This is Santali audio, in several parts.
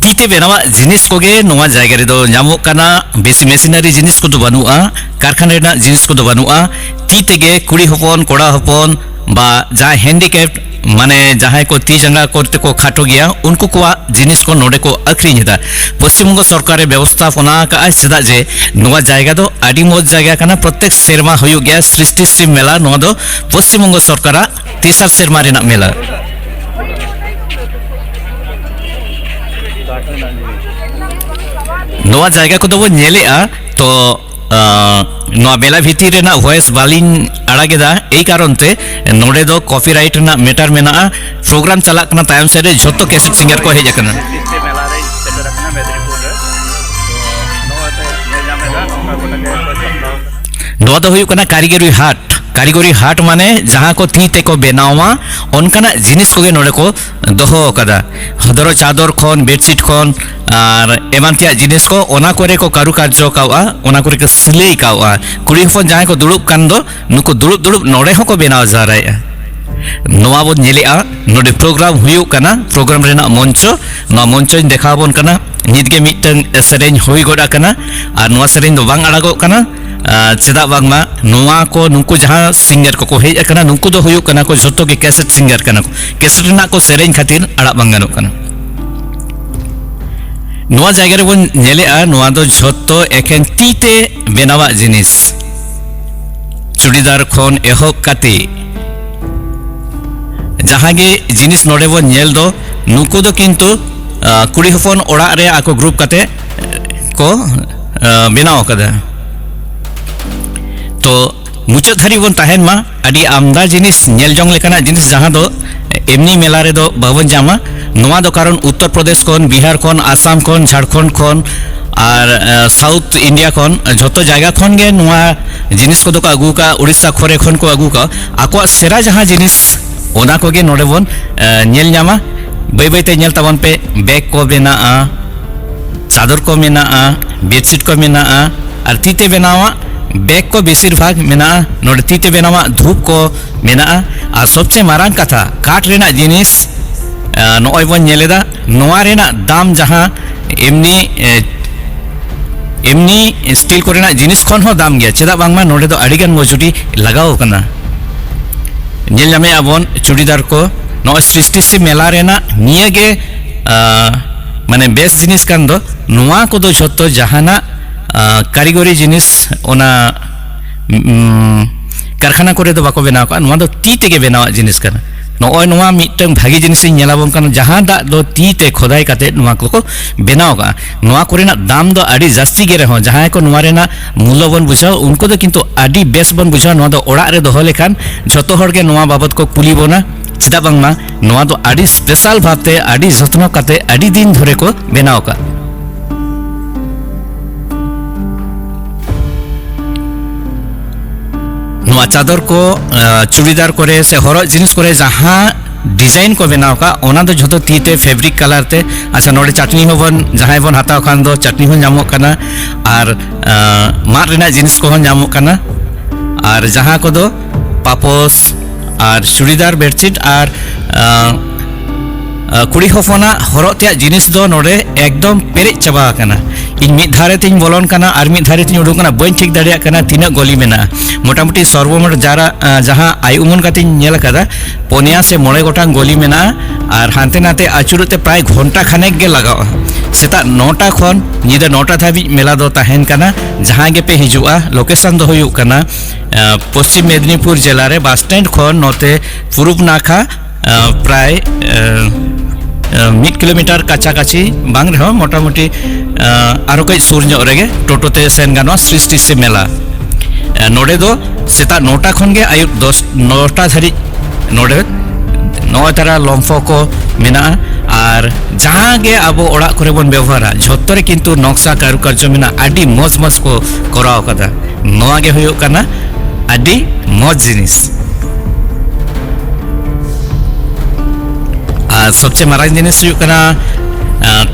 ᱛᱤᱛᱮ ᱵᱮᱱᱟᱣᱟᱜ ᱡᱤᱱᱤᱥ ᱠᱚᱜᱮ ᱱᱚᱣᱟ ᱡᱟᱭᱜᱟ ᱨᱮᱫᱚ ᱧᱟᱢᱚᱜ ᱠᱟᱱᱟ ᱵᱮᱥᱤ ᱢᱮᱥᱤᱱᱟᱨᱤ ᱡᱤᱱᱤᱥ ᱠᱚᱫᱚ ᱵᱟᱹᱱᱩᱜᱼᱟ ᱠᱟᱨᱠᱷᱟᱱᱟ ᱨᱮᱱᱟᱜ ᱡᱤᱱᱤᱥ ᱠᱚᱫᱚ ᱵᱟᱹᱱᱩᱜᱼᱟ ᱛᱤ ᱛᱮᱜᱮ ᱠᱩᱲᱤ ᱦᱚᱯᱚᱱ ᱠᱚᱲᱟ ᱦᱚᱯᱚᱱ ᱵᱟ ᱡᱟᱦᱟᱸᱭ ᱦᱮᱱᱰᱤᱠᱮᱯ ᱢᱟᱱᱮ ᱡᱟᱦᱟᱸᱭ ᱠᱚ ᱛᱤ ᱡᱟᱸᱜᱟ ᱠᱚᱨᱛᱮ ᱠᱚ ᱠᱷᱟᱴᱚ ᱜᱮᱭᱟ ᱩᱱᱠᱩ ᱠᱚᱣᱟᱜ ᱡᱤᱱᱤᱥ ᱠᱚ ᱱᱚᱰᱮ ᱠᱚ ᱟᱹᱠᱷᱨᱤᱧ ᱮᱫᱟ ᱯᱚᱥᱪᱤᱢ ᱵᱚᱝᱜᱚ ᱥᱚᱨᱠᱟᱨ ᱮ ᱵᱮᱵᱚᱥᱛᱷᱟ ᱯᱚᱱᱟ ᱟᱠᱟᱫᱼᱟ ᱪᱮᱫᱟᱜ ᱡᱮ ᱱᱚᱣᱟ ᱡᱟᱭᱜᱟ ᱫᱚ ᱟᱹᱰᱤ ᱢᱚᱡᱽ ᱡᱟᱭᱜᱟ ᱠᱟᱱᱟ ᱯᱨᱚᱛᱮᱠ ᱥᱮᱨᱢᱟ ᱦᱩᱭᱩᱜ ᱜᱮᱭᱟ ᱥᱨᱤᱥᱴᱤ ᱥᱤᱵ ᱢᱮᱞᱟ ᱱᱚᱣᱟ ᱫᱚ ᱯᱚᱥᱪᱤᱢ ᱵᱚᱝᱜᱚ ᱥᱚᱨᱠᱟᱨᱟᱜ ᱛᱮᱥᱟᱨ ᱥᱮᱨᱢᱟ ᱨᱮᱱᱟᱜ ᱢᱮᱞᱟ ᱱᱚᱣᱟ ᱡᱟᱭᱜᱟ ᱠᱚᱫᱚ ᱵᱚᱱ ᱧᱮᱞᱮᱜᱼᱟ ᱛᱚ ᱱᱚᱣᱟ ᱢᱮᱞᱟ ᱵᱷᱤᱛᱤᱨ ᱨᱮᱱᱟᱜ ᱵᱷᱚᱭᱮᱥ ᱵᱟᱹᱞᱤᱧ ᱟᱲᱟᱜᱮᱫᱟ ᱮᱭ ᱠᱟᱨᱚᱱ ᱛᱮ ᱱᱚᱰᱮ ᱫᱚ ᱠᱚᱯᱤᱨᱟᱭᱤᱴ ᱨᱮᱱᱟᱜ ᱢᱮᱴᱟᱨ ᱢᱮᱱᱟᱜᱼᱟ ᱯᱨᱳᱜᱨᱟᱢ ᱪᱟᱞᱟᱜ ᱠᱟᱱᱟ ᱛᱟᱭᱚᱢ ᱥᱮᱫ ᱨᱮ ᱡᱷᱚᱛᱚ ᱠᱮᱥᱮᱴ ᱥᱤᱝᱜᱟᱨ ᱠᱚ ᱦᱮᱡ ᱟᱠᱟᱱᱟ ᱱᱚᱣᱟ ᱫᱚ ᱦᱩᱭᱩᱜ ᱠᱟᱱᱟ ᱠᱟᱹᱨᱤᱜᱚᱨᱤ ᱦᱟᱴ ᱠᱟᱹᱨᱤᱜᱚᱨᱤ ᱦᱟᱴ ᱢᱟᱱᱮ ᱡᱟᱦᱟᱸ ᱠᱚ ᱛᱤ ᱛᱮᱠᱚ ᱵᱮᱱᱟᱣᱟ ᱚᱱᱠᱟᱱᱟᱜ ᱡᱤᱱᱤᱥ ᱠᱚᱜᱮ ᱱᱚᱰᱮ ᱠᱚ ᱫᱚᱦᱚ ᱟᱠᱟᱫᱟ ᱫᱷᱚᱨᱚ ᱪᱟᱫᱚᱨ ᱠᱷᱚᱱ ᱵᱮᱰᱥᱤᱴ ᱠᱷᱚᱱ ᱟᱨ ᱮᱢᱟᱱ ᱛᱮᱭᱟᱜ ᱡᱤᱱᱤᱥ ᱠᱚ ᱚᱱᱟ ᱠᱚᱨᱮ ᱠᱚ ᱠᱟᱨᱩᱠᱟᱨᱡᱚ ᱠᱟᱣᱟ ᱚᱱᱟ ᱠᱚᱨᱮ ᱠᱚ ᱥᱤᱞᱟᱹᱭ ᱠᱟᱣᱟ ᱠᱩᱲᱤ ᱦᱚᱯᱚᱱ ᱡᱟᱦᱟᱸᱭ ᱠᱚ ᱫᱩᱲᱩᱵ ᱠᱟᱱ ᱫᱚ ᱱᱩᱠᱩ ᱫᱩᱲᱩᱵ ᱫᱩᱲᱩᱵ ᱱᱚᱰᱮ ᱦᱚᱸᱠᱚ ᱵᱮᱱᱟᱣ ᱡᱟᱣᱨᱟᱭᱮᱫᱼᱟ ᱱᱚᱣᱟ ᱵᱚᱱ ᱧᱮᱞᱮᱫᱼᱟ ᱱᱚᱰᱮ ᱯᱨᱳᱜᱨᱟᱢ ᱦᱩᱭᱩᱜ ᱠᱟᱱᱟ ᱯᱨᱳᱜᱨᱟᱢ ᱨᱮᱱᱟᱜ ᱢᱚᱧᱪᱚ ᱱᱚᱣᱟ ᱢᱚᱧᱪᱚᱧ ᱫᱮᱠᱷᱟᱣ ᱟᱵᱚᱱ ᱠᱟᱱᱟ ᱱᱤᱛ ᱜᱮ ᱢᱤᱫᱴᱟᱝ ᱥᱮᱨᱮᱧ ᱦᱩᱭ ᱜᱚᱫ ᱟᱠᱟᱱᱟ ᱟᱨ ᱱᱚᱣᱟ ᱥᱮᱨᱮᱧ ᱫᱚ ᱵᱟᱝ ᱟᱲᱟᱜᱚᱜ ᱠᱟᱱᱟ ᱪᱮᱫᱟᱜ ᱵᱟᱝᱢᱟ ᱱᱚᱣᱟ ᱠᱚ ᱱᱩᱠᱩ ᱡᱟᱦᱟᱸ ᱥᱤᱝᱜᱟᱨ ᱠᱚᱠᱚ ᱦᱮᱡ ᱟᱠᱟᱱᱟ ᱱᱩᱠᱩ ᱫᱚ ᱦᱩᱭᱩᱜ ᱠᱟᱱᱟ ᱠᱚ ᱡᱷᱚᱛᱚ ᱜᱮ ᱠᱮᱥᱮᱴ ᱥᱤᱝᱜᱟᱨ ᱠᱟᱱᱟ ᱠᱚ ᱠᱮᱥᱮᱴ ᱨᱮᱱᱟᱜ ᱠᱚ ᱥᱮᱨᱮᱧ ᱠᱷᱟᱹᱛᱤᱨ ᱟᱲᱟᱜ ᱵᱟᱝ ᱜᱟᱱᱚᱜ ᱠᱟᱱᱟ ᱱᱚᱣᱟ ᱡᱟᱭᱜᱟ ᱨᱮᱵᱚᱱ ᱧᱮᱞᱮᱜᱼᱟ ᱱᱚᱣᱟ ᱫᱚ ᱡᱷᱚᱛᱚ ᱮᱠᱷᱮᱱ ᱛᱤ ᱛᱮ ᱵᱮᱱᱟᱣᱟᱜ ᱡᱤᱱᱤᱥ ᱪᱩᱲᱤᱫᱟᱨ ᱠᱷᱚᱱ ᱮᱦᱚᱵ ᱠᱟᱛᱮ ᱡᱟᱦᱟᱸ ᱜᱮ ᱡᱤᱱᱤᱥ ᱱᱚᱰᱮ ᱵᱚᱱ ᱧᱮᱞ ᱫᱚ ᱱᱩᱠᱩ ᱫᱚ ᱠᱤᱱᱛᱩ ᱠᱩᱲᱤ ᱦᱚᱯᱚᱱ ᱚᱲᱟᱜ ᱨᱮ ᱟᱠᱚ ᱜᱨᱩᱯ ᱠᱟᱛᱮ ᱠᱚ ᱵᱮᱱᱟᱣ ᱟᱠᱟᱫᱟ ᱛᱚ ᱢᱩᱪᱟᱹᱫ ᱫᱷᱟᱹᱨᱤᱡ ᱵᱚᱱ ᱛᱟᱦᱮᱱ ᱢᱟ ᱟᱹᱰᱤ ᱟᱢᱫᱟ ᱡᱤᱱᱤᱥ ᱧᱮᱞ ᱡᱚᱝ ᱞᱮᱠᱟᱱᱟᱜ ᱡᱤᱱᱤᱥ ᱡᱟᱦᱟᱸ ᱫᱚ ᱮᱢᱱᱤ ᱢᱮᱞᱟ ᱨᱮᱫᱚ ᱵᱟᱵᱚᱱ ᱧᱟᱢᱟ ᱱᱚᱣᱟ ᱫᱚ ᱠᱟᱨᱚᱱ ᱩᱛᱛᱚᱨ ᱯᱨᱚᱫᱮᱥ ᱠᱷᱚᱱ ᱵᱤᱦᱟᱨ ᱠᱷᱚᱱ ᱟᱥᱟᱢ ᱠᱷᱚᱱ ᱡᱷᱟᱲᱠᱷᱚᱸᱰ ᱠᱷᱚᱱ ᱟᱨ ᱥᱟᱣᱩᱛᱷ ᱤᱱᱰᱤᱭᱟ ᱠᱷᱚᱱ ᱡᱷᱚᱛᱚ ᱡᱟᱭᱜᱟ ᱠᱷᱚᱱ ᱜᱮ ᱱᱚᱣᱟ ᱡᱤᱱᱤᱥ ᱠᱚᱫᱚ ᱠᱚ ᱟᱹᱜᱩ ᱠᱟᱜᱼᱟ ᱩᱲᱤᱥᱥᱟ ᱠᱚᱨᱮ ᱠᱷᱚᱱ ᱠᱚ ᱟᱹᱜᱩ ᱠᱟᱜᱼᱟ ᱟᱠᱚᱣᱟᱜ ᱥᱮᱨᱟ ᱡᱟᱦᱟᱸ ᱡᱤᱱᱤᱥ ᱚᱱᱟ ᱠᱚᱜᱮ ᱱᱚᱰᱮ ᱵᱚᱱ ᱧᱮᱞ ᱧᱟᱢᱟ ᱵᱟᱹᱭ ᱵᱟᱹᱭᱛᱮ ᱧᱮᱞ ᱛᱟᱵᱚᱱ ᱯᱮ ᱵᱮᱜᱽ ᱠᱚ ᱢᱮᱱᱟᱜᱼᱟ ᱪᱟᱫᱚᱨ ᱠᱚ ᱢᱮᱱᱟᱜᱼᱟ ᱵᱮᱰᱥᱤᱴ ᱠᱚ ᱢᱮᱱᱟᱜᱼᱟ ᱟᱨ ᱛᱤᱛᱮ ᱵᱮᱱᱟᱣᱟᱜ ᱵᱮᱜᱽ ᱠᱚ ᱵᱮᱥᱤᱨ ᱵᱷᱟᱜᱽ ᱢᱮᱱᱟᱜᱼᱟ ᱱᱚᱰᱮ ᱛᱤᱛᱮ ᱵᱮᱱᱟᱣᱟᱜ ᱫᱷᱩᱯ ᱠᱚ ᱢᱮᱱᱟᱜᱼᱟ ᱟᱨ ᱥᱚᱵᱪᱮ ᱢᱟᱨᱟᱝ ᱠᱟᱛᱷᱟ ᱠᱟᱴ ᱨᱮᱱᱟᱜ ᱡᱤᱱᱤᱥ ᱱᱚᱜᱼᱚᱭ ᱵᱚᱱ ᱧᱮᱞᱮᱫᱟ ᱱᱚᱣᱟ ᱨᱮᱱᱟᱜ ᱫᱟᱢ ᱡᱟᱦᱟᱸ ᱮᱢᱱᱤ ᱮᱢᱱᱤ ᱥᱴᱤᱞ ᱠᱚᱨᱮᱱᱟᱜ ᱡᱤᱱᱤᱥ ᱠᱷᱚᱱ ᱦᱚᱸ ᱫᱟᱢ ᱜᱮᱭᱟ ᱪᱮᱫᱟᱜ ᱵᱟᱝᱢᱟ ᱱᱚᱰᱮ ᱫᱚ ᱟᱹᱰᱤ ᱜᱟᱱ ᱢᱚᱡᱩᱨᱤ ᱞᱟᱜᱟᱣ ᱟᱠᱟᱱᱟ ᱧᱮᱞ ᱧᱟᱢᱮᱜᱼᱟ ᱵᱚᱱ ᱪᱩᱲᱤᱫᱟᱨ ᱠᱚ ᱱᱚᱜᱼᱚᱭ ᱥᱨᱤᱥᱴᱤ ᱥᱮ ᱢᱮᱞᱟ ᱨᱮᱱᱟᱜ ᱱᱤᱭᱟᱹ ᱜᱮ ᱢᱟᱱᱮ ᱵᱮᱥ ᱡᱤᱱᱤᱥ ᱠᱟᱱ ᱫᱚ ᱱᱚᱣᱟ ᱠᱚᱫᱚ ᱡᱷᱚᱛᱚ ᱡᱟᱦᱟᱱᱟᱜ ᱠᱟᱹᱨᱤᱜᱚᱨᱤ ᱡᱤᱱᱤᱥ ᱚᱱᱟ ᱠᱟᱨᱠᱷᱟᱱᱟ ᱠᱚᱨᱮ ᱫᱚ ᱵᱟᱠᱚ ᱵᱮᱱᱟᱣ ᱠᱟᱜᱼᱟ ᱱᱚᱣᱟ ᱫᱚ ᱛᱤ ᱛᱮᱜᱮ ᱵᱮᱱᱟᱣᱟᱜ ᱡᱤᱱᱤᱥ ᱠᱟᱱᱟ ᱱᱚᱜᱼᱚᱭ ᱱᱚᱣᱟ ᱢᱤᱫᱴᱟᱝ ᱵᱷᱟᱜᱮ ᱡᱤᱱᱤᱥᱤᱧ ᱧᱮᱞᱟᱵᱚᱱ ᱠᱟᱱᱟ ᱡᱟᱦᱟᱸ ᱫᱟᱜ ᱫᱚ ᱛᱤ ᱛᱮ ᱠᱷᱚᱫᱟᱭ ᱠᱟᱛᱮ ᱱᱚᱣᱟ ᱠᱚᱠᱚ ᱵᱮᱱᱟᱣ ᱠᱟᱜᱼᱟ ᱱᱚᱣᱟ ᱠᱚᱨᱮᱱᱟᱜ ᱫᱟᱢ ᱫᱚ ᱟᱹᱰᱤ ᱡᱟᱹᱥᱛᱤ ᱜᱮ ᱨᱮᱦᱚᱸ ᱡᱟᱦᱟᱸᱭ ᱠᱚ ᱱᱚᱣᱟ ᱨᱮᱱᱟᱜ ᱢᱩᱞᱞᱚ ᱵᱚᱱ ᱵᱩᱡᱷᱟᱹᱣ ᱩᱱᱠᱩ ᱫᱚ ᱠᱤᱱᱛᱩ ᱟᱹᱰᱤ ᱵᱮᱥ ᱵᱚᱱ ᱵᱩᱡᱷᱟᱹᱣ ᱱᱚᱣᱟ ᱫᱚ ᱚᱲᱟᱜ ᱨᱮ ᱫᱚᱦᱚ ᱞᱮᱠᱷᱟᱱ ᱡᱷᱚᱛᱚ ᱦᱚᱲ ᱜᱮ ᱱᱚᱣᱟ ᱵᱟᱵᱚᱛ ᱠᱚ ᱠᱩᱞᱤ ᱵᱚᱱᱟ ᱪᱮᱫᱟᱜ ᱵᱟᱝᱢᱟ ᱱᱚᱣᱟ ᱫᱚ ᱟᱹᱰᱤ ᱥᱯᱮᱥᱟᱞ ᱵᱷᱟᱵᱛᱮ ᱟᱹᱰᱤ ᱡᱚᱛᱱᱚ ᱠᱟᱛᱮ ᱟᱹᱰᱤ ᱫᱤᱱ ᱫᱷᱚᱨᱮ ᱠᱚ ᱵᱮᱱᱟᱣ ᱟᱠᱟᱫ ᱱᱚᱣᱟ ᱪᱟᱫᱚᱨ ᱠᱚ ᱪᱩᱲᱤᱫᱟᱨ ᱠᱚᱨᱮ ᱥᱮ ᱦᱚᱨᱚᱜ ᱡᱤᱱᱤᱥ ᱠᱚᱨᱮ ᱡᱟᱦᱟᱸ ᱰᱤᱡᱟᱭᱤᱱ ᱠᱚ ᱵᱮᱱᱟᱣ ᱠᱟᱜ ᱚᱱᱟ ᱫᱚ ᱡᱷᱚᱛᱚ ᱛᱤ ᱛᱮ ᱯᱷᱮᱵᱨᱤᱠ ᱠᱟᱞᱟᱨ ᱛᱮ ᱟᱪᱪᱷᱟ ᱱᱚᱰᱮ ᱪᱟᱴᱱᱤ ᱦᱚᱸ ᱵᱚᱱ ᱡᱟᱦᱟᱸᱭ ᱵᱚᱱ ᱦᱟᱛᱟᱣ ᱠᱷᱟᱱ ᱫᱚ ᱪᱟᱴᱱᱤ ᱦᱚᱸ ᱧᱟᱢᱚᱜ ᱠᱟᱱᱟ ᱟᱨ ᱢᱟᱫ ᱨᱮᱱᱟᱜ ᱡᱤᱱᱤᱥ ᱠᱚᱦᱚᱸ ᱧᱟᱢᱚᱜ ᱠᱟᱱᱟ ᱟᱨ ᱡᱟᱦᱟᱸ ᱠᱚᱫᱚ ᱯᱟᱯᱚᱥ ᱟᱨ ᱪᱩᱲᱤᱫᱟᱨ ᱵᱮᱰᱥᱤᱴ ᱟᱨ ᱠᱩᱲᱤ ᱦᱚᱯᱚᱱᱟᱜ ᱦᱚᱨᱚᱜ ᱛᱮᱭᱟᱜ ᱡᱤᱱᱤᱥ ᱫᱚ ᱱᱚᱰᱮ ᱮᱠᱫᱚᱢ ᱯᱮᱨᱮᱡ ᱪᱟᱵᱟ ᱟᱠᱟᱱᱟ ᱤᱧ ᱢᱤᱫ ᱫᱷᱟᱨᱮ ᱛᱤᱧ ᱵᱚᱞᱚᱱ ᱠᱟᱱᱟ ᱟᱨ ᱢᱤᱫ ᱫᱷᱟᱨᱮ ᱛᱤᱧ ᱩᱰᱩᱠ ᱠᱟᱱᱟ ᱵᱟᱹᱧ ᱴᱷᱤᱠ ᱫᱟᱲᱮᱭᱟᱜ ᱠᱟᱱᱟ ᱛᱤᱱᱟᱹᱜ ᱜᱚᱞᱤ ᱢᱮᱱᱟᱜᱼᱟ ᱢᱚᱴᱟᱢᱩᱴᱤ ᱥᱚᱨᱵᱚᱢᱳᱴ ᱡᱟᱨᱟ ᱡᱟᱦᱟᱸ ᱟᱭ ᱩᱢᱟᱹᱱ ᱠᱟᱛᱮᱧ ᱧᱮᱞ ᱟᱠᱟᱫᱟ ᱯᱚᱱᱭᱟ ᱥᱮ ᱢᱚᱬᱮ ᱜᱚᱴᱟᱝ ᱜᱚᱞᱤ ᱢᱮᱱᱟᱜᱼᱟ ᱟᱨ ᱦᱟᱱᱛᱮ ᱱᱟᱛᱮ ᱟᱹᱪᱩᱨᱚᱜ ᱛᱮ ᱯᱨᱟᱭ ᱜᱷᱚᱱᱴᱟ ᱠᱷᱟᱱᱮᱠ ᱜᱮ ᱞᱟᱜᱟᱜᱼᱟ ᱥᱮᱛᱟᱜ ᱱᱚᱴᱟ ᱠᱷᱚᱱ ᱧᱤᱫᱟᱹ ᱱᱚᱴᱟ ᱫᱷᱟᱹᱵᱤᱡ ᱢᱮᱞᱟ ᱫᱚ ᱛᱟᱦᱮᱱ ᱠᱟᱱᱟ ᱡᱟᱦᱟᱸ ᱜᱮᱯᱮ ᱦᱤᱡᱩᱜᱼᱟ ᱞᱳᱠᱮᱥᱚᱱ ᱫᱚ ᱦᱩᱭᱩᱜ ᱠᱟᱱᱟ ᱯᱚᱥᱪᱤᱢ ᱢᱮᱫᱽᱱᱤᱯᱩᱨ ᱡᱮᱞᱟ ᱨᱮ ᱵᱟᱥ ᱥᱴᱮᱱᱰ ᱠᱷᱚᱱ ᱱᱚᱛᱮ ᱯᱩᱨᱩᱵ ᱱᱟᱠᱷᱟ ᱯᱨᱟᱭ ᱢᱤᱫ ᱠᱤᱞᱳᱢᱤᱴᱟᱨ ᱠᱟᱪᱷᱟ ᱠᱟᱪᱷᱤ ᱵᱟᱝ ᱨᱮᱦᱚᱸ ᱢᱚᱴᱟᱢᱩᱴᱤ ᱟᱨᱚ ᱠᱟᱹᱡ ᱥᱩᱨ ᱧᱚᱜ ᱨᱮᱜᱮ ᱴᱳᱴᱳ ᱛᱮ ᱥᱮᱱ ᱜᱟᱱᱚᱜᱼᱟ ᱥᱨᱤᱥᱴᱤ ᱥᱮ ᱢᱮᱞᱟ ᱱᱚᱰᱮ ᱫᱚ ᱥᱮᱛᱟᱜ ᱱᱚᱴᱟ ᱠᱷᱚᱱ ᱜᱮ ᱟᱭᱩᱵ ᱫᱚᱥ ᱱᱚᱴᱟ ᱫᱷᱟᱹᱨᱤᱡ ᱱᱚᱰᱮ ᱱᱚᱜᱼᱚᱭ ᱛᱟᱨᱟ ᱞᱚᱢᱯᱷᱚ ᱠᱚ ᱢᱮᱱᱟᱜᱼᱟ ᱟᱨ ᱡᱟᱦᱟᱸ ᱜᱮ ᱟᱵᱚ ᱚᱲᱟᱜ ᱠᱚᱨᱮ ᱵᱚᱱ ᱵᱮᱵᱚᱦᱟᱨᱟ ᱡᱷᱚᱛᱚ ᱨᱮ ᱠᱤᱱᱛᱩ ᱱᱚᱠᱥᱟ ᱠᱟᱨᱩᱠᱟᱨᱡᱚ ᱢᱮᱱᱟᱜ ᱟᱹᱰᱤ ᱢᱚᱡᱽ ᱢᱚᱡᱽ ᱠᱚ ᱠᱚᱨᱟᱣ ᱠᱟᱫᱟ ᱱᱚᱣᱟ ᱜᱮ ᱦᱩᱭᱩᱜ ᱠᱟᱱᱟ ᱟᱹᱰᱤ ᱢᱚᱡᱽ ᱡᱤᱱᱤᱥ ᱟᱨ ᱥᱚᱵᱪᱮ ᱢᱟᱨᱟᱝ ᱡᱤᱱᱤᱥ ᱦᱩᱭᱩᱜ ᱠᱟᱱᱟ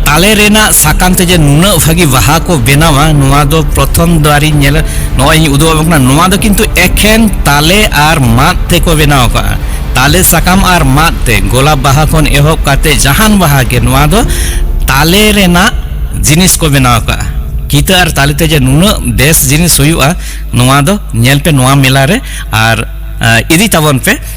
ᱛᱟᱞᱮ ᱨᱮᱱᱟᱜ ᱥᱟᱠᱟᱢ ᱛᱮ ᱡᱮ ᱱᱩᱱᱟᱹᱜ ᱵᱷᱟᱹᱜᱤ ᱵᱟᱦᱟ ᱠᱚ ᱵᱮᱱᱟᱣᱟ ᱱᱚᱣᱟ ᱫᱚ ᱯᱨᱚᱛᱷᱚᱢ ᱫᱚᱣᱟᱨᱤᱧ ᱧᱮᱞᱟ ᱱᱚᱜᱼᱚᱭ ᱤᱧ ᱩᱫᱩᱜ ᱟᱵᱚᱱ ᱠᱟᱱᱟ ᱱᱚᱣᱟ ᱫᱚ ᱠᱤᱱᱛᱩ ᱮᱠᱷᱮᱱ ᱛᱟᱞᱮ ᱟᱨ ᱢᱟᱫ ᱛᱮᱠᱚ ᱵᱮᱱᱟᱣ ᱟᱠᱟᱫᱼᱟ ᱛᱟᱞᱮ ᱥᱟᱠᱟᱢ ᱟᱨ ᱢᱟᱫ ᱛᱮ ᱜᱳᱞᱟᱯ ᱵᱟᱦᱟ ᱠᱷᱚᱱ ᱮᱦᱚᱵ ᱠᱟᱛᱮ ᱡᱟᱦᱟᱱ ᱵᱟᱦᱟ ᱜᱮ ᱱᱚᱣᱟ ᱫᱚ ᱛᱟᱞᱮ ᱨᱮᱱᱟᱜ ᱡᱤᱱᱤᱥ ᱠᱚ ᱵᱮᱱᱟᱣ ᱟᱠᱟᱫᱼᱟ ᱠᱤᱛᱟᱹ ᱟᱨ ᱛᱟᱞᱮ ᱛᱮ ᱡᱮ ᱱᱩᱱᱟᱹᱜ ᱵᱮᱥ ᱡᱤᱱᱤᱥ ᱦᱩᱭᱩᱜᱼᱟ ᱱᱚᱣᱟ ᱫᱚ ᱧᱮᱞ ᱯᱮ ᱱᱚᱣᱟ ᱢᱮᱞᱟ ᱨᱮ ᱟᱨ ᱤᱫᱤ ᱛᱟᱵᱚᱱ ᱯᱮ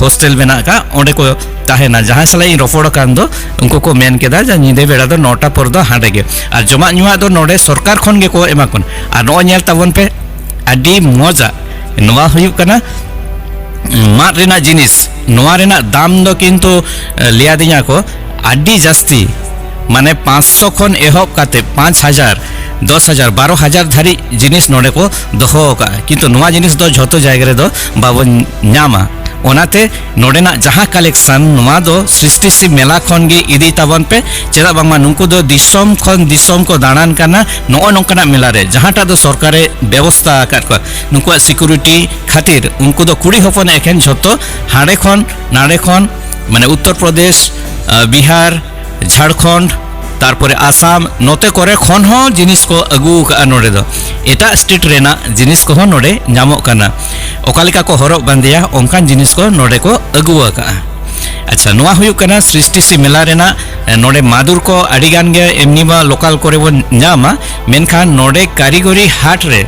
ᱦᱳᱥᱴᱮᱞ ᱢᱮᱱᱟᱜ ᱠᱟᱜ ᱚᱸᱰᱮ ᱠᱚ ᱛᱟᱦᱮᱱᱟ ᱡᱟᱦᱟᱸᱭ ᱥᱟᱞᱟᱜ ᱤᱧ ᱨᱚᱯᱚᱲ ᱟᱠᱟᱱ ᱫᱚ ᱩᱱᱠᱩ ᱠᱚ ᱢᱮᱱ ᱠᱮᱫᱟ ᱡᱮ ᱧᱤᱫᱟᱹ ᱵᱮᱲᱟ ᱫᱚ ᱱᱚᱴᱟ ᱯᱚᱨ ᱫᱚ ᱦᱟᱸᱰᱮ ᱜᱮ ᱟᱨ ᱡᱚᱢᱟᱜ ᱧᱩᱣᱟᱜ ᱫᱚ ᱱᱚᱰᱮ ᱥᱚᱨᱠᱟᱨ ᱠᱷᱚᱱ ᱜᱮᱠᱚ ᱮᱢᱟ ᱠᱚ ᱟᱨ ᱱᱚᱜᱼᱚᱭ ᱧᱮᱞ ᱛᱟᱵᱚᱱ ᱯᱮ ᱟᱹᱰᱤ ᱢᱚᱡᱟ ᱱᱚᱣᱟ ᱦᱩᱭᱩᱜ ᱠᱟᱱᱟ ᱢᱟᱫ ᱨᱮᱱᱟᱜ ᱡᱤᱱᱤᱥ ᱱᱚᱣᱟ ᱨᱮᱱᱟᱜ ᱫᱟᱢ ᱫᱚ ᱠᱤᱱᱛᱩ ᱞᱟᱹᱭᱟᱫᱤᱧᱟ ᱠᱚ ᱟᱹᱰᱤ ᱡᱟᱹᱥᱛᱤ ᱢᱟᱱᱮ ᱯᱟᱸᱪᱥᱚ ᱠᱷᱚᱱ ᱮᱦᱚᱵ ᱠᱟᱛᱮ ᱯᱟᱸᱪ ᱦᱟᱡᱟᱨ ᱫᱚᱥ ᱦᱟᱡᱟᱨ ᱵᱟᱨᱚ ᱦᱟᱡᱟᱨ ᱫᱷᱟᱹᱨᱤᱡ ᱡᱤᱱᱤᱥ ᱱᱚᱰᱮ ᱠᱚ ᱫᱚᱦᱚ ᱟᱠᱟᱫᱼᱟ ᱠᱤᱱᱛᱩ ᱱᱚᱣᱟ ᱡᱤᱱᱤᱥ ᱫᱚ ᱡᱷᱚᱛᱚ ᱡᱟᱭᱜᱟ ᱨᱮᱫᱚ ᱵᱟᱵᱚᱱ ᱧᱟᱢᱟ ᱚᱱᱟᱛᱮ ᱱᱚᱰᱮᱱᱟᱜ ᱡᱟᱦᱟᱸ ᱠᱟᱞᱮᱠᱥᱚᱱ ᱱᱚᱣᱟ ᱫᱚ ᱥᱨᱤᱥᱴᱤ ᱥᱤᱵ ᱢᱮᱞᱟ ᱠᱷᱚᱱ ᱜᱮ ᱤᱫᱤ ᱛᱟᱵᱚᱱ ᱯᱮ ᱪᱮᱫᱟᱜ ᱵᱟᱝᱢᱟ ᱱᱩᱠᱩ ᱫᱚ ᱫᱤᱥᱚᱢ ᱠᱷᱚᱱ ᱫᱤᱥᱚᱢ ᱠᱚ ᱫᱟᱬᱟᱱ ᱠᱟᱱᱟ ᱱᱚᱜᱼᱚ ᱱᱚᱝᱠᱟᱱᱟᱜ ᱢᱮᱞᱟ ᱨᱮ ᱡᱟᱦᱟᱸᱴᱟᱜ ᱫᱚ ᱥᱚᱨᱠᱟᱨᱮ ᱵᱮᱵᱚᱥᱛᱟ ᱟᱠᱟᱫ ᱠᱚᱣᱟ ᱱᱩᱠᱩᱣᱟᱜ ᱥᱤᱠᱩᱨᱤᱴᱤ ᱠᱷᱟᱹᱛᱤᱨ ᱩᱱᱠᱩ ᱫᱚ ᱠᱩᱲᱤ ᱦᱚᱯᱚᱱ ᱮᱠᱷᱮᱱ ᱡᱷᱚᱛᱚ ᱦᱟᱸᱰᱮ ᱠᱷᱚᱱ ᱱᱟᱰᱮ ᱠᱷᱚᱱ ᱢᱟᱱᱮ ᱩᱛᱛᱚᱨ ᱯᱨᱚᱫᱮᱥ ᱵᱤᱦᱟᱨ ᱡᱷᱟᱲᱠᱷᱚᱸᱰ ᱛᱟᱨᱯᱚᱨᱮ ᱟᱥᱟᱢ ᱱᱚᱛᱮ ᱠᱚᱨᱮ ᱠᱷᱚᱱ ᱦᱚᱸ ᱡᱤᱱᱤᱥ ᱠᱚ ᱟᱹᱜᱩ ᱟᱠᱟᱫᱼᱟ ᱱᱚᱰᱮ ᱫᱚ ᱮᱴᱟᱜ ᱥᱴᱮᱴ ᱨᱮᱱᱟᱜ ᱡᱤᱱᱤᱥ ᱠᱚᱦᱚᱸ ᱱᱚᱰᱮ ᱧᱟᱢᱚᱜ ᱠᱟᱱᱟ ᱚᱠᱟ ᱞᱮᱠᱟ ᱠᱚ ᱦᱚᱨᱚᱜ ᱵᱟᱸᱫᱮᱭᱟ ᱚᱱᱠᱟᱱ ᱡᱤᱱᱤᱥ ᱠᱚ ᱱᱚᱰᱮ ᱠᱚ ᱟᱹᱜᱩ ᱟᱠᱟᱫᱼᱟ ᱟᱪᱪᱷᱟ ᱱᱚᱣᱟ ᱦᱩᱭᱩᱜ ᱠᱟᱱᱟ ᱥᱨᱤᱥᱴᱤ ᱥᱤ ᱢᱮᱞᱟ ᱨᱮᱱᱟᱜ ᱱᱚᱰᱮ ᱢᱟᱫᱩᱨ ᱠᱚ ᱟᱹᱰᱤ ᱜᱟᱱ ᱜᱮ ᱮᱢᱱᱤ ᱢᱟ ᱞᱳᱠᱟᱞ ᱠᱚᱨᱮ ᱵᱚᱱ ᱧᱟᱢᱟ ᱢᱮᱱᱠᱷᱟᱱ ᱱᱚᱰᱮ ᱠᱟᱹᱨᱤᱜᱚᱨᱤ ᱦᱟᱴ ᱨᱮ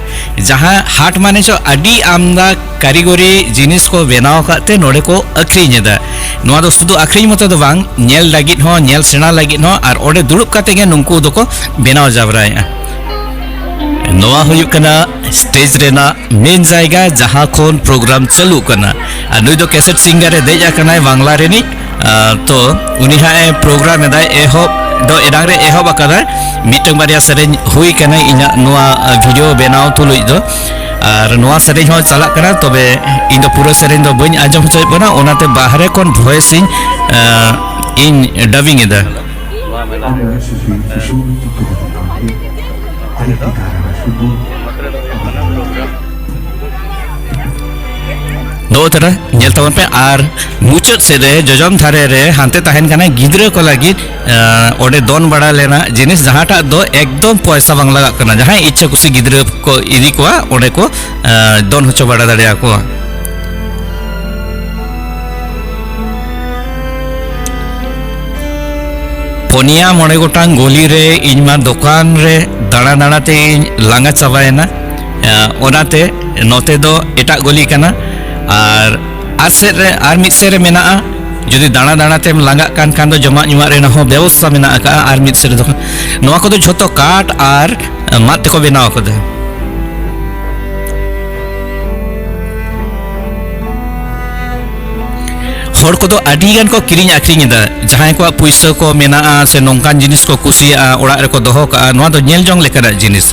ᱡᱟᱦᱟᱸ ᱦᱟᱴ ᱢᱟᱱᱮ ᱪᱚ ᱟᱹᱰᱤ ᱟᱢᱫᱟ ᱠᱟᱹᱨᱤᱜᱚᱨᱤ ᱡᱤᱱᱤᱥ ᱠᱚ ᱵᱮᱱᱟᱣ ᱟᱠᱟᱫ ᱛᱮ ᱱᱚᱰᱮ ᱠᱚ ᱟᱹᱠᱷᱨᱤᱧ ᱮᱫᱟ ᱱᱚᱣᱟ ᱫᱚ ᱥᱩᱫᱷᱩ ᱟᱹᱠᱷᱨᱤᱧ ᱢᱚᱛᱚ ᱫᱚ ᱵᱟᱝ ᱧᱮᱞ ᱞᱟᱹᱜᱤᱫ ᱦᱚᱸ ᱧᱮᱞ ᱥᱮᱬᱟ ᱞᱟᱹᱜᱤᱫ ᱦᱚᱸ ᱟᱨ ᱚᱸᱰᱮ ᱫᱩᱲᱩᱵ ᱠᱟᱛᱮ ᱜᱮ ᱱᱩᱠᱩ ᱫᱚᱠᱚ ᱵᱮᱱᱟᱣ ᱡᱟᱵᱽᱨᱟᱭᱮᱫᱼᱟ ᱱᱚᱣᱟ ᱦᱩᱭᱩᱜ ᱠᱟᱱᱟ ᱥᱴᱮᱡ ᱨᱮᱱᱟᱜ ᱢᱮᱱ ᱡᱟᱭᱜᱟ ᱡᱟᱦᱟᱸ ᱠᱷᱚᱱ ᱯᱨᱳᱜᱨᱟᱢ ᱪᱟᱹᱞᱩ ᱠᱟᱱᱟ ᱟᱨ ᱱᱩᱭ ᱫᱚ ᱠᱮᱥᱮᱴ ᱥᱤᱝᱜᱟᱨ ᱮ ᱫᱮᱡ ᱟᱠᱟᱱᱟᱭ ᱵᱟᱝᱞᱟ ᱨᱤᱱᱤᱡ ᱛᱚ ᱩᱱᱤ ᱦᱟᱸᱜ ᱮ ᱯᱨᱳᱜᱨᱟᱢ ᱮᱫᱟᱭ ᱮᱦᱚᱵ ᱫᱚ ᱮᱱᱟᱝ ᱨᱮ ᱮᱦᱚᱵ ᱟᱠᱟᱫᱟᱭ ᱢᱤᱫᱴᱟᱝ ᱵᱟᱨᱭᱟ ᱥᱮᱨᱮᱧ ᱦᱩᱭ ᱠᱟᱱᱟ ᱤᱧᱟᱹᱜ ᱱᱚᱣᱟ ᱵᱷᱤᱰᱤᱭᱳ ᱵᱮᱱᱟᱣ ᱛᱩᱞᱩᱡ ᱫᱚ ᱟᱨ ᱱᱚᱣᱟ ᱥᱮᱨᱮᱧ ᱦᱚᱸ ᱪᱟᱞᱟᱜ ᱠᱟᱱᱟ ᱛᱚᱵᱮ ᱤᱧ ᱫᱚ ᱯᱩᱨᱟᱹ ᱥᱮᱨᱮᱧ ᱫᱚ ᱵᱟᱹᱧ ᱟᱸᱡᱚᱢ ᱦᱚᱪᱚᱭᱮᱫ ᱵᱚᱱᱟ ᱚᱱᱟᱛᱮ ᱵᱟᱦᱨᱮ ᱠᱷᱚᱱ ᱵᱷᱚᱭᱮᱥ ᱤᱧ ᱤᱧ ᱰᱟᱵᱤᱝ ᱮᱫᱟ ᱫᱚ ᱛᱟᱨᱟ ᱧᱮᱞ ᱛᱟᱵᱚᱱ ᱯᱮ ᱟᱨ ᱢᱩᱪᱟᱹᱫ ᱥᱮᱫ ᱨᱮ ᱡᱚᱡᱚᱢ ᱫᱷᱟᱨᱮ ᱨᱮ ᱦᱟᱱᱛᱮ ᱛᱟᱦᱮᱱ ᱠᱟᱱᱟ ᱜᱤᱫᱽᱨᱟᱹ ᱠᱚ ᱞᱟᱹᱜᱤᱫ ᱚᱸᱰᱮ ᱫᱚᱱ ᱵᱟᱲᱟ ᱞᱮᱱᱟ ᱡᱤᱱᱤᱥ ᱡᱟᱦᱟᱸᱴᱟᱜ ᱫᱚ ᱮᱠᱫᱚᱢ ᱯᱚᱭᱥᱟ ᱵᱟᱝ ᱞᱟᱜᱟᱜ ᱠᱟᱱᱟ ᱡᱟᱦᱟᱸᱭ ᱤᱪᱪᱷᱟ ᱠᱩᱥᱤ ᱜᱤᱫᱽᱨᱟᱹ ᱠᱚ ᱤᱫᱤ ᱠᱚᱣᱟ ᱚᱸᱰᱮ ᱠᱚ ᱫᱚᱱ ᱦᱚᱪᱚ ᱵᱟᱲᱟ ᱫᱟᱲᱮᱭᱟᱠᱚᱣᱟ ᱯᱚᱱᱭᱟ ᱢᱚᱬᱮ ᱜᱚᱴᱟᱝ ᱜᱚᱞᱤ ᱨᱮ ᱤᱧ ᱢᱟ ᱫᱚᱠᱟᱱ ᱨᱮ ᱫᱟᱬᱟ ᱫᱟᱬᱟ ᱛᱮ ᱤᱧ ᱞᱟᱸᱜᱟ ᱪᱟᱵᱟᱭᱮᱱᱟ ᱚᱱᱟᱛᱮ ᱱᱚᱛᱮ ᱫᱚ ᱮᱴᱟᱜ ᱜᱚᱞᱤ ᱠᱟᱱᱟ ᱟᱨ ᱟᱨ ᱥᱮᱫ ᱨᱮ ᱟᱨ ᱢᱤᱫ ᱥᱮᱫ ᱨᱮ ᱢᱮᱱᱟᱜᱼᱟ ᱡᱩᱫᱤ ᱫᱟᱬᱟ ᱫᱟᱬᱟ ᱛᱮᱢ ᱞᱟᱸᱜᱟᱜ ᱠᱟᱱ ᱠᱷᱟᱱ ᱫᱚ ᱡᱚᱢᱟᱜ ᱧᱩᱣᱟᱜ ᱨᱮᱱᱟᱜ ᱦᱚᱸ ᱵᱮᱵᱚᱥᱛᱷᱟ ᱢᱮᱱᱟᱜ ᱟᱠᱟᱫᱼᱟ ᱟᱨ ᱢᱤᱫ ᱥᱮᱫ ᱨᱮᱫᱚ ᱱᱚᱣᱟ ᱠᱚᱫᱚ ᱡᱷᱚᱛᱚ ᱠᱟᱴ ᱟᱨ ᱢᱟᱫ ᱛᱮᱠᱚ ᱵᱮᱱᱟᱣ ᱟᱠᱟᱫᱟ ᱦᱚᱲ ᱠᱚᱫᱚ ᱟᱹᱰᱤ ᱜᱟᱱ ᱠᱚ ᱠᱤᱨᱤᱧ ᱟᱠᱷᱨᱤᱧ ᱮᱫᱟ ᱡᱟᱦᱟᱸᱭ ᱠᱚᱣᱟᱜ ᱯᱩᱭᱥᱟᱹ ᱠᱚ ᱢᱮᱱᱟᱜᱼᱟ ᱥᱮ ᱱᱚᱝᱠᱟᱱ ᱡᱤᱱᱤᱥ ᱠᱚ ᱠᱩᱥᱤᱭᱟᱜᱼᱟ ᱚᱲᱟᱜ ᱨᱮᱠᱚ ᱫᱚᱦᱚ ᱠᱟᱜᱼᱟ ᱱᱚᱣᱟ ᱫᱚ ᱧᱮᱞ ᱡᱚᱝ ᱞᱮᱠᱟᱱᱟᱜ ᱡᱤᱱᱤᱥ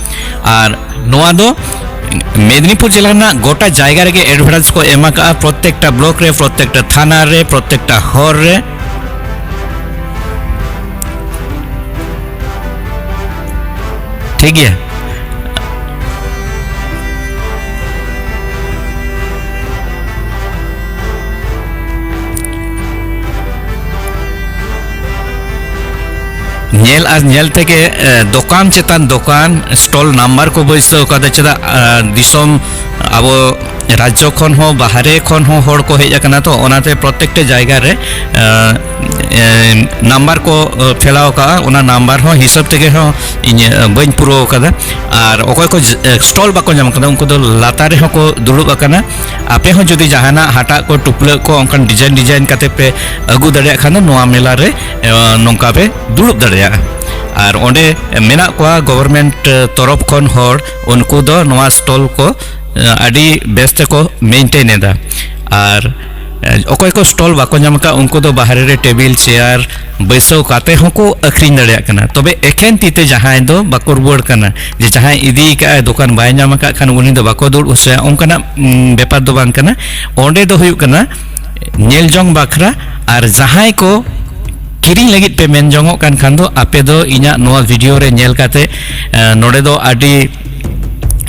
ᱟᱨ ᱱᱚᱣᱟ ᱫᱚ ᱢᱮᱫᱽᱱᱤᱯᱩᱨ ᱡᱮᱞᱟ ᱨᱮᱱᱟᱜ ᱜᱚᱴᱟ ᱡᱟᱭᱜᱟ ᱨᱮᱜᱮ ᱮᱰᱵᱷᱟᱨᱴᱟᱭᱤᱡᱽ ᱠᱚ ᱮᱢ ᱟᱠᱟᱫᱼᱟ ᱯᱨᱚᱛᱮᱠᱴᱟ ᱵᱞᱚᱠ ᱨᱮ ᱯᱨᱚᱛᱮᱠᱴᱟ ᱛᱷᱟᱱᱟ ᱨᱮ ᱯᱨᱚᱛᱮᱠᱴᱟ ᱦᱚᱨ ᱨᱮ ᱴᱷᱤᱠ ᱜᱮᱭᱟ ᱧᱮᱞ ᱟᱨ ᱧᱮᱞ ᱛᱮᱜᱮ ᱫᱚᱠᱟᱱ ᱪᱮᱛᱟᱱ ᱫᱚᱠᱟᱱ ᱥᱴᱚᱞ ᱱᱟᱢᱵᱟᱨ ᱠᱚ ᱵᱟᱹᱭᱥᱟᱹᱣ ᱠᱟᱫᱟ ᱪᱮᱫᱟᱜ ᱫᱤᱥᱚᱢ ᱟᱵᱚ ᱨᱟᱡᱽᱡᱚ ᱠᱷᱚᱱ ᱦᱚᱸ ᱵᱟᱦᱨᱮ ᱠᱷᱚᱱ ᱦᱚᱸ ᱦᱚᱲ ᱠᱚ ᱦᱮᱡ ᱟᱠᱟᱱᱟ ᱛᱚ ᱚᱱᱟᱛᱮ ᱯᱨᱚᱛᱮᱠᱴᱟ ᱡᱟᱭᱜᱟ ᱨᱮ ᱱᱟᱢᱵᱟᱨ ᱠᱚ ᱯᱷᱮᱞᱟᱣ ᱠᱟᱜᱼᱟ ᱚᱱᱟ ᱱᱟᱢᱵᱟᱨ ᱦᱚᱸ ᱦᱤᱥᱟᱹᱵ ᱛᱮᱜᱮ ᱦᱚᱸ ᱤᱧ ᱵᱟᱹᱧ ᱯᱩᱨᱟᱹᱣ ᱠᱟᱫᱟ ᱟᱨ ᱚᱠᱚᱭ ᱠᱚ ᱥᱴᱚᱞ ᱵᱟᱠᱚ ᱧᱟᱢ ᱠᱟᱫᱟ ᱩᱱᱠᱩ ᱫᱚ ᱞᱟᱛᱟᱨ ᱨᱮᱦᱚᱸ ᱠᱚ ᱫᱩᱲᱩᱵ ᱟᱠᱟᱱᱟ ᱟᱯᱮ ᱦᱚᱸ ᱡᱩᱫᱤ ᱡᱟᱦᱟᱱᱟᱜ ᱦᱟᱴᱟᱜ ᱠᱚ ᱴᱩᱯᱞᱟᱹᱜ ᱠᱚ ᱚᱱᱠᱟᱱ ᱰᱤᱡᱟᱭᱤᱱ ᱰᱤᱡᱟᱭᱤᱱ ᱠᱟᱛᱮ ᱯᱮ ᱟᱹᱜᱩ ᱫᱟᱲᱮᱭᱟᱜ ᱠᱷᱟᱱ ᱫᱚ ᱱᱚᱣᱟ ᱢᱮᱞᱟ ᱨᱮ ᱱᱚᱝᱠᱟ ᱯᱮ ᱫᱩᱲᱩᱵ ᱫᱟᱲᱮᱭᱟᱜᱼᱟ ᱟᱨ ᱚᱸᱰᱮ ᱢᱮᱱᱟᱜ ᱠᱚᱣᱟ ᱜᱚᱵᱷᱚᱨᱢᱮᱱᱴ ᱛᱚᱨᱚᱯᱷ ᱠᱷᱚᱱ ᱦᱚᱲ ᱩᱱᱠᱩ ᱫᱚ ᱱᱚᱣᱟ ᱥᱴᱚᱞ ᱠᱚ ᱟᱹᱰᱤ ᱵᱮᱥ ᱛᱮᱠᱚ ᱢᱮᱱᱴᱮᱱ ᱮᱫᱟ ᱟᱨ ᱚᱠᱚᱭ ᱠᱚ ᱥᱴᱚᱞ ᱵᱟᱠᱚ ᱧᱟᱢ ᱟᱠᱟᱫ ᱩᱱᱠᱩ ᱫᱚ ᱵᱟᱦᱨᱮ ᱨᱮ ᱴᱮᱵᱤᱞ ᱪᱮᱭᱟᱨ ᱵᱟᱹᱭᱥᱟᱹᱣ ᱠᱟᱛᱮ ᱦᱚᱸᱠᱚ ᱟᱹᱠᱷᱨᱤᱧ ᱫᱟᱲᱮᱭᱟᱜ ᱠᱟᱱᱟ ᱛᱚᱵᱮ ᱮᱠᱷᱮᱱ ᱛᱤ ᱛᱮ ᱡᱟᱦᱟᱸᱭ ᱫᱚ ᱵᱟᱠᱚ ᱨᱩᱣᱟᱹᱲ ᱠᱟᱱᱟ ᱡᱮ ᱡᱟᱦᱟᱸᱭ ᱤᱫᱤ ᱠᱟᱜᱼᱟᱭ ᱫᱚᱠᱟᱱ ᱵᱟᱭ ᱧᱟᱢ ᱟᱠᱟᱫ ᱠᱷᱟᱱ ᱩᱱᱤ ᱫᱚ ᱵᱟᱠᱚ ᱫᱩᱲᱩᱵ ᱦᱚᱪᱚᱭᱟ ᱚᱱᱠᱟᱱᱟᱜ ᱵᱮᱯᱟᱨ ᱫᱚ ᱵᱟᱝ ᱠᱟᱱᱟ ᱚᱸᱰᱮ ᱫᱚ ᱦᱩᱭᱩᱜ ᱠᱟᱱᱟ ᱧᱮᱞ ᱡᱚᱝ ᱵᱟᱠᱷᱨᱟ ᱟᱨ ᱡᱟᱦᱟᱸᱭ ᱠᱚ ᱠᱤᱨᱤᱧ ᱞᱟᱹᱜᱤᱫ ᱯᱮ ᱢᱮᱱ ᱡᱚᱝᱚᱜ ᱠᱟᱱ ᱠᱷᱟᱱ ᱫᱚ ᱟᱯᱮ ᱫᱚ ᱤᱧᱟᱹᱜ ᱱᱚᱣᱟ ᱵᱷᱤᱰᱤᱭᱳ ᱨᱮ ᱧᱮᱞ ᱠᱟᱛᱮ ᱱᱚᱰᱮ ᱫᱚ ᱟᱹᱰᱤ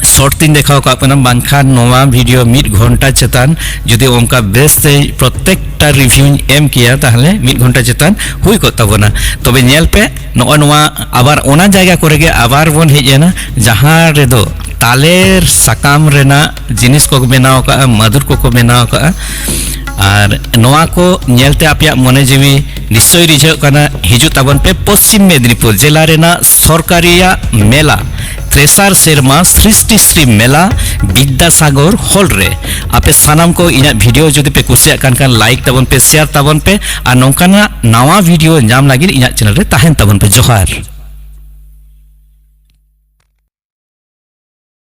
ᱥᱚᱨᱴ ᱛᱤᱧ ᱫᱮᱠᱷᱟᱣ ᱠᱟᱜ ᱠᱟᱱᱟ ᱵᱟᱝᱠᱷᱟᱱ ᱱᱚᱣᱟ ᱵᱷᱤᱰᱤᱭᱳ ᱢᱤᱫ ᱜᱷᱚᱱᱴᱟ ᱪᱮᱛᱟᱱ ᱡᱩᱫᱤ ᱚᱱᱠᱟ ᱵᱮᱥ ᱛᱮ ᱯᱨᱚᱛᱮᱠᱴᱟ ᱨᱤᱵᱷᱤᱭᱩᱧ ᱮᱢ ᱠᱮᱭᱟ ᱛᱟᱦᱞᱮ ᱢᱤᱫ ᱜᱷᱚᱱᱴᱟ ᱪᱮᱛᱟᱱ ᱦᱩᱭ ᱠᱚᱜ ᱛᱟᱵᱚᱱᱟ ᱛᱚᱵᱮ ᱧᱮᱞ ᱯᱮ ᱱᱚᱜᱼᱚ ᱱᱚᱣᱟ ᱟᱵᱟᱨ ᱚᱱᱟ ᱡᱟᱭᱜᱟ ᱠᱚᱨᱮ ᱜᱮ ᱟᱵᱟᱨ ᱵᱚᱱ ᱦᱮᱡ ᱮᱱᱟ ᱡᱟᱦᱟᱸ ᱨᱮᱫᱚ ᱛᱟᱞᱮᱨ ᱥᱟᱠᱟᱢ ᱨᱮᱱᱟᱜ ᱡᱤᱱᱤᱥ ᱠᱚ ᱵᱮᱱᱟᱣ ᱟᱠᱟᱫᱼᱟ ᱢᱟᱫᱩᱨ ᱠᱚᱠᱚ ᱵᱮᱱᱟᱣ ᱟᱠᱟᱫᱼᱟ ᱟᱨ ᱱᱚᱣᱟ ᱠᱚ ᱧᱮᱞᱛᱮ ᱟᱯᱮᱭᱟᱜ ᱢᱚᱱᱮ ᱡᱤᱣᱤ ᱱᱤᱥᱪᱚᱭ ᱨᱤᱡᱷᱟᱹᱜ ᱠᱟᱱᱟ ᱦᱤᱡᱩᱜ ᱛᱟᱵᱚᱱ ᱯᱮ ᱯᱚᱥᱪᱤᱢ ᱢᱮᱫᱽᱱᱤᱯᱩᱨ ᱡᱮᱞᱟ ᱨᱮᱱᱟᱜ ᱥᱚᱨᱠᱟᱨᱤᱭᱟᱜ ᱢᱮᱞᱟ ᱛᱨᱮᱥᱟᱨ ᱥᱮᱨᱢᱟ ᱥᱨᱤᱥᱴᱤ ᱥᱨᱤ ᱢᱮᱞᱟ ᱵᱤᱫᱽᱫᱟᱥᱟᱜᱚᱨ ᱦᱚᱞ ᱨᱮ ᱟᱯᱮ ᱥᱟᱱᱟᱢ ᱠᱚ ᱤᱧᱟᱹᱜ ᱵᱷᱤᱰᱤᱭᱳ ᱡᱩᱫᱤ ᱯᱮ ᱠᱩᱥᱤᱭᱟᱜ ᱠᱟᱱ ᱠᱷᱟᱱ ᱞᱟᱭᱤᱠ ᱛᱟᱵᱚᱱ ᱯᱮ ᱥᱮᱭᱟᱨ ᱛᱟᱵᱚᱱ ᱯᱮ ᱟᱨ ᱱᱚᱝᱠᱟᱱᱟᱜ ᱱᱟᱣᱟ ᱵᱷᱤᱰᱤᱭᱳ ᱧᱟᱢ ᱞᱟᱹᱜᱤᱫ ᱤᱧᱟᱹᱜ ᱪᱮᱱᱮᱞ ᱨᱮ ᱛᱟᱦᱮᱱ ᱛᱟᱵᱚᱱ ᱯᱮ ᱡᱚᱦᱟᱨ